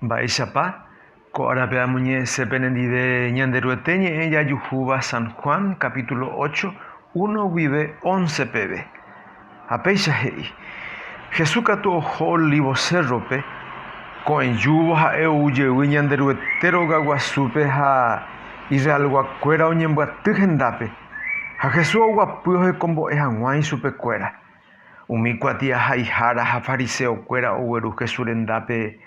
Mba'éichapa? Ko árape amoñe'ẽse penendive Ñanderuete ñe'ẽ jajuhúva San Juan capítulo ocho, uno guive once peve. Ha péicha he'i, Jesús katu oho Olivo Cérrope, ko'ẽjúvo ha'e ou jey Ñanderuete rogaguasúpe ha Israelguakuéra oñembyaty hendápe. Ha Jesús oguapy ohekombo'e hag̃ua ichupekuéra. Umi kuatiahaihára ha fariseokuéra ogueru Jesús rendápe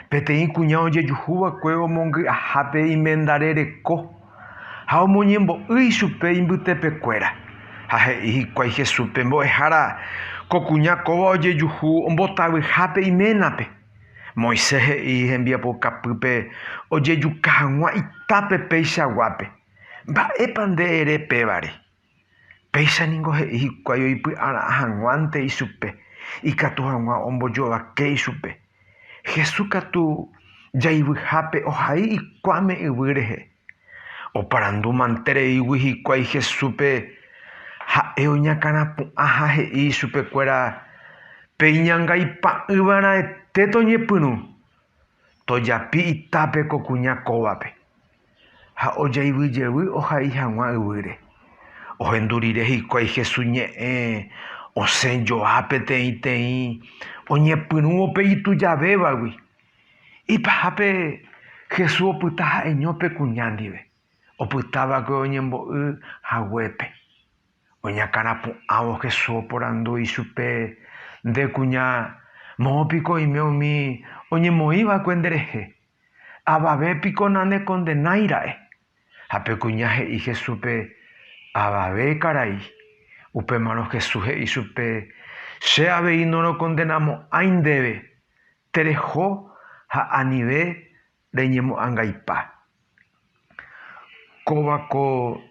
peteĩ kuña ojejuhúva'ekue omongy'ahápe imendare reko, ha omoñembo'ýi chupe imbytepekuéra. Ha he'i hikuái Jesúspe, Mbo'ehára, ko kuña kóva ojejuhu ombotavyhápe iménape. Moisés he'i hembiapokapýpe ojejuka hag̃ua itápe peichaguápe. Mba'épa nde ere pévare? Péicha ningo he'i hikuái oipy'ara'ã hag̃uánte ichupe, ikatu hag̃ua ombojovake ichupe. Jesús katu jaivyhápe ohai ikuáme yvy rehe. Oparandu mante reígui hikuái Jesúspe, ha'e oñakãrapu'ã ha he'i ichupekuéra, Peiñangaipa'ỹva'erãete toñepyrũ, tojapi itápe ko kuña kóvape. Ha ojaivy jevy ohai hag̃ua yvýre. Ohendu rire hikuái Hesu ñe'ẽ, osẽ joa peteĩteĩ oñepyrũvo pe itujavévagui. Ipahápe Hesu opyta ha'eño pe kuña ndive, opytáva'ekue oñembo'y haguépe. Oñakãrapu'ãvo Hesu oporandu ichupe, Nde kuña, moõ piko oime umi oñemoĩva'ekue nderehe? Avave piko nanekondenáira'e? Ha pe kuña he'i Jesúspe, Avave karai. Upémarõ Jesús he'i chupe, Che avei norokondenamo'ãi ndéve, tereho ha anive reñemo'ãngaipa. Kóva ko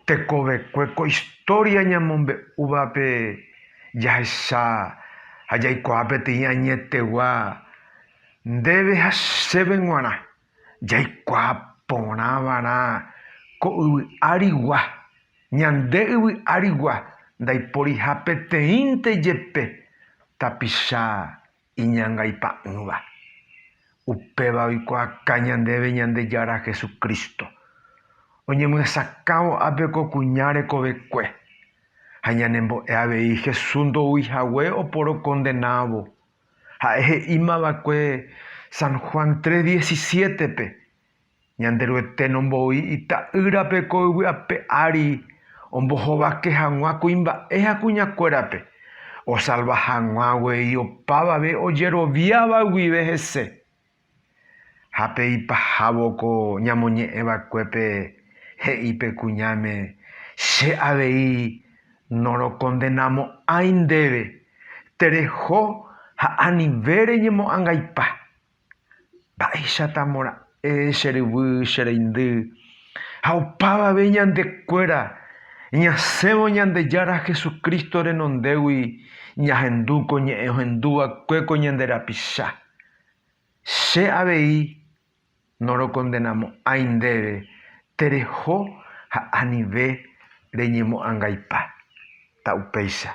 tekovekue ko istória ñamombe'úvape jahecha ha jaikuaa peteĩ añetegua ndéve ha chéve g̃uarã, jaikuaa porã va'erã ko yvy árigua, ñande yvy árigua ndaiporiha peteĩnte jepe tapicha iñangaipa'ỹva. Upéva oikuaaka ñandéve Ñandejára Jesucristo, oñemyesakãvo ápe ko kuña rekovekue, ha ñanembo'e avei Jesús ndoúi hague oporokondenávo. Ha'e he'ímava'ekue San Juan tres diecisiete-pe, Ñanderuete nomboi Ita'ýrape ko yvy ape ári ombohovake hag̃ua kuimba'e ha kuñakuérape, osalva hag̃ua guei opavave ojeroviáva guive hese. Ha pe ipahávo ko ñamoñe'ẽ vakuépe he'i pe kuñáme, Che avei norokondenamo'ãi ndéve, tereho ha anive reñemo'ãngaipa, Mba'éichata mora'e che ryvy, che reindy, ha opavave ñande kuéra ñasẽvo Ñandejára Jesucristo renondégui ñahendu ko ñe'ẽ ohendu va'ekue ko ñande rapicha. Che avei norokondenamo'ãi ndéve tereho ha anive reñemo'ãngaipa, ta upéicha.